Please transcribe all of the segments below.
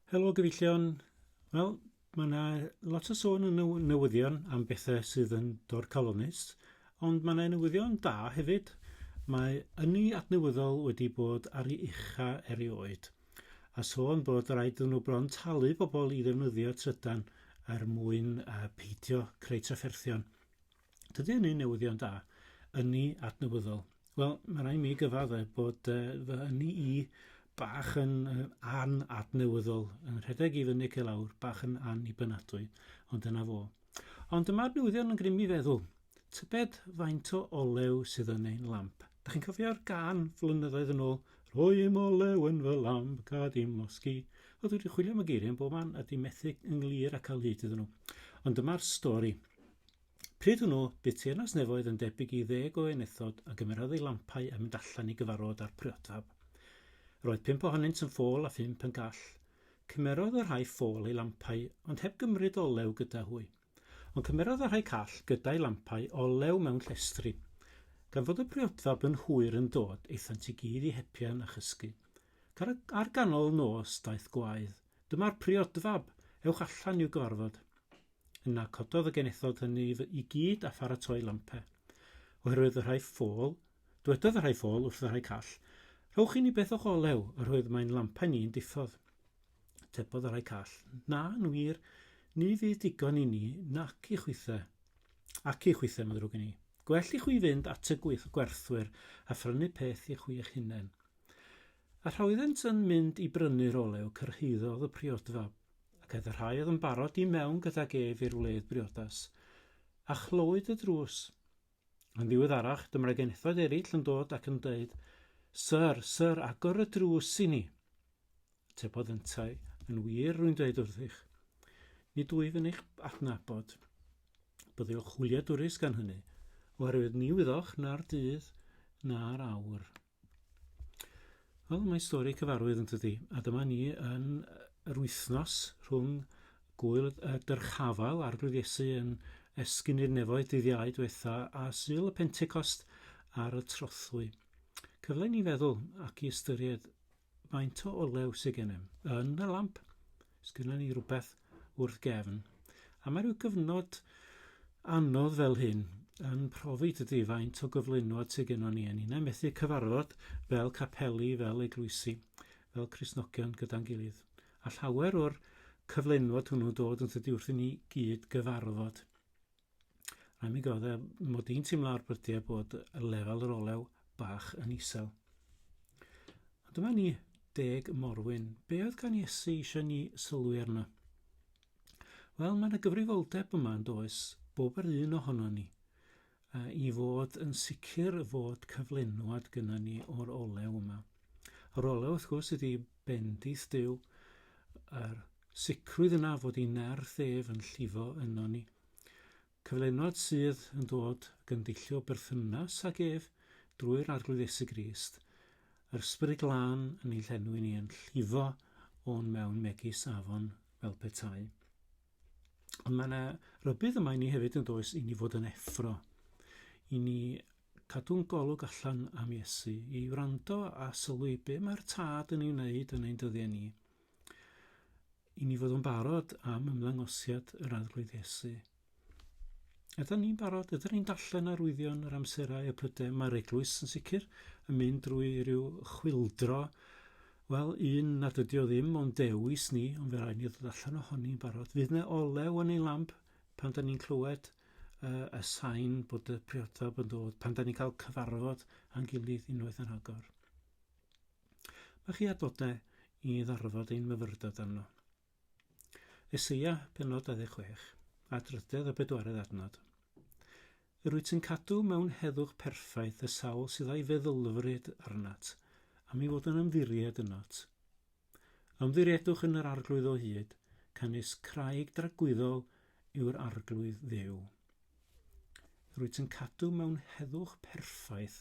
Helo gyfeillion. Wel, mae yna lot o sôn yn y newyddion am bethau sydd yn dorcalonnus, ond mae yna newyddion da hefyd. Mae ynni adnewyddol wedi bod ar ei ucha erioed, a sôn bod rhaid iddyn nhw bron talu pobl i ddefnyddio trydan er mwyn uh, peidio creu trafferthion. Dydy hynny'n newyddion da, ynni adnewyddol. Wel, mae rhaid mi gyfadde bod uh, fy ynni i bach yn uh, an adnewyddol, yn rhedeg i fyny ac i lawr, bach yn an i bynadwy, ond dyna fo. Ond dyma'r newyddion yn grym i feddwl. Tybed faint o olew sydd yn ein lamp? Da chi'n cofio'r gan flynyddoedd yn ôl, rhoi im olew yn fy lamp, gad i'm losgi. Oedd wedi chwilio am y geiriau yn bob man a di methu ynglŷr a cael hyd iddyn nhw. Ond dyma'r stori. Pryd hwnnw, bu teyrnas nefoedd yn debyg i ddeg o enethod a gymerodd eu lampau a mynd allan i gyfarfod â'r priotab. Yr oedd pump ohonynt yn ffôl a phump yn gall. Cymerodd y rhai ffôl eu lampau, ond heb gymryd olew gyda hwy. Ond cymerodd y rhai call gyda'u lampau olew mewn llestri. Gan fod y priotab yn hwyr yn dod, aethant i gyd i hepian a chysgu. Car, ar ganol nos daeth gwaedd, Dyma'r priodfab! Ewch allan i'w gyfarfod! Yna cododd y genethod hynny i gyd a pharatoi lampe. Oherwydd y rhai ffôl, dwedodd y rhai ffôl wrth y rhai call, Rhowch i ni beth o'ch olew, oherwydd mae'n lampau ni'n diffodd. Tebodd y rhai call, Na, yn wir, ni fydd digon i ni nac i chwithe. Ac i chwithe, mae'n ddrwg i ni. Gwell i chwi fynd at y gweith gwerthwyr a phrynu peth i chwi eich hunain. A thra oeddent yn mynd i brynu'r olew, cyrhaeddodd y priodfab. ac aeth y rhai oedd yn barod i mewn gydag ef i'r wledd briodas, a chlywyd y drws. Yn ddiweddarach, dyma'r genethoedd eraill yn dod ac yn dweud, Syr, syr, agor y drws i ni. Tebodd yntau, yn wir, rwy'n dweud wrthych, nid wyf yn eich adnabod. Byddwch hwyliadwrus gan hynny, oherwydd ni wyddoch na'r dydd na'r awr. Wel, mae stori cyfarwydd yn tydi, a dyma ni yn yr wythnos rhwng gwyl y dyrchafael a'r blydiesu yn esgyn i'r nefoedd dyddiau diwetha a syl y Pentecost ar y trothwy. Cyfle ni feddwl ac i ystyried Faint o olew sy gennym? Yn y lamp. Sgynnon ni rhywbeth wrth gefn. A mae rhyw gyfnod anodd fel hyn yn profi dydy faint o gyflenwad sy gennon ni yn ni'n methu cyfarfod fel capeli, fel eglwysi, fel Cristnogion gyda'n gilydd. A llawer o'r cyflenwad hwnnw'n dod yn tydi wrth i ni gyd gyfarfod. Rhaid mi gael e, mod i'n teimlo ar brydiau bod y lefel yr olew bach yn isel. A dyma ni, deg morwyn. Be oedd gan Iesu eisiau ni sylwi arno? Wel, mae yna gyfrifoldeb yma yn does, bob yr un ohono ni, uh, i fod yn sicr fod cyflenwad gyda ni o'r olew yma. Yr olew, wrth gwrs, ydy bendith Dyw, yr Sicrwydd yna fod ei nerth ef yn llifo yno ni. Cyflenwad sydd yn dod gyndillo berthynas ag ef drwy'r Arglwydd Iesu Grist, yr Ysbryd Glân yn ei llenwi ni yn llifo o'n mewn megis afon fel petai. Ond mae yna rybydd yma i ni hefyd yn does i ni fod yn effro, i ni cadw'n golwg allan am Iesu, i wrando a sylwi be mae'r Tad yn ei wneud yn ein dyddiau ni. i ni fod yn barod am ymddangosiad yr Arglwydd Iesu. Ydyn ni'n barod? Ydyn ni'n darllen arwyddion yr amserau y prydau? Mae'r eglwys yn sicr yn mynd drwy rhyw chwildro Wel, un nad ydi o ddim ond dewis ni, ond fe rhaid ni ddod allan ohoni'n barod. Fydd na olew yn ei lamp pan da ni'n clywed uh, y sain bod y priodfab yn dod, pan da ni'n cael cyfarfod a'n gilydd unwaith yn agor. Mae chi adnodau i ddarfod ein myfyrdod arno. Eseia, penod 26, a drydedd a bedwaredd adnod. Yr wyt ti'n cadw mewn heddwch perffaith y sawl sydd a'i feddylfryd arnat, a mi fod yn ymddiried ynot. Ymddiriedwch yn yr arglwydd o hyd, canys craig dragwyddol yw'r arglwydd ddew. Rwyt yn cadw mewn heddwch perffaith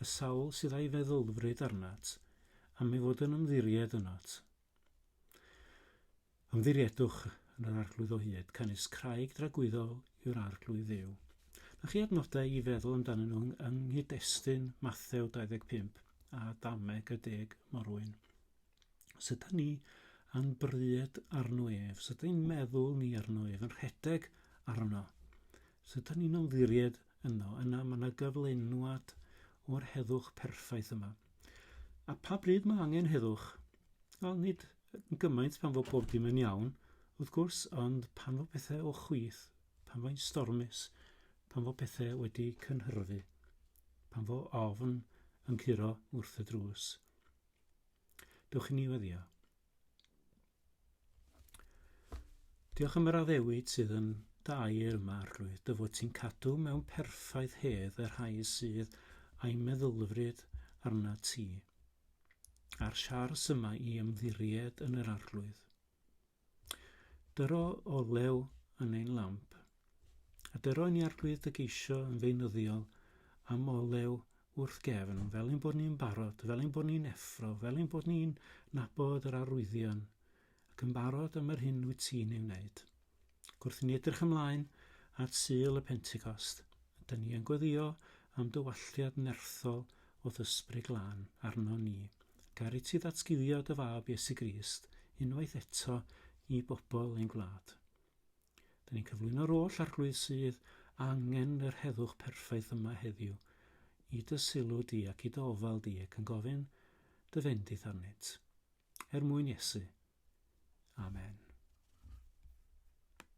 y sawl sydd a'i feddylfryd arnat, am ei fod yn ymddiried ynot. Ymddiriedwch yn yr Arglwydd o hyd, canys craig dragwyddol yw'r Arglwydd Dduw. Na chi adnodau i feddwl amdanyn nhw yng nghyd-destun Mathew 25 a Dameg y Deg Morwyn. Os ydy ni yn bryd arno ef, os ydy ni'n meddwl ni arno ef, yn rhedeg arno, os ydy ni'n ymddiried yno, yna mae yna gyflenwad o'r heddwch perffaith yma. A pa bryd mae angen heddwch? Wel, nid yn gymaint pan fod pob dim yn iawn, wrth gwrs, ond pan fod pethau o chwith, pan fo'n stormus, pan fod pethau wedi cynhyrfu, pan fod ofn yn curo wrth y drws. Dwch i ni weddio. Diolch am yr addewid sydd yn dair yma, Arglwydd, dy fod ti'n cadw mewn perffaith hedd y rhai sydd a'i meddylfryd arna ti. A'r siars yma i ymddiried yn yr Arglwydd. Dyro olew yn ein lamp. A dyro ni arglwydd dy geisio yn feunyddiol am olew wrth gefn, fel ein bod ni'n barod, fel ein bod ni'n effro, fel ein bod ni'n nabod yr arwyddion, ac yn barod am yr hyn wyt ti'n ei wneud. Ac wrth ni edrych ymlaen at Sul y Pentecost, dyn ni yn gweddio am dywalliad nerthol o ddysbryd glân arno ni. Gaf i ti ddatguddio dy fab Iesu Grist unwaith eto i bobl ein gwlad? Dyn ni'n cyflwyno'r oll arglwydd sydd angen yr heddwch perffaith yma heddiw i dy sylw di ac i dy ofal di ac yn gofyn dy fendith arnynt. Er mwyn Iesu. Amen.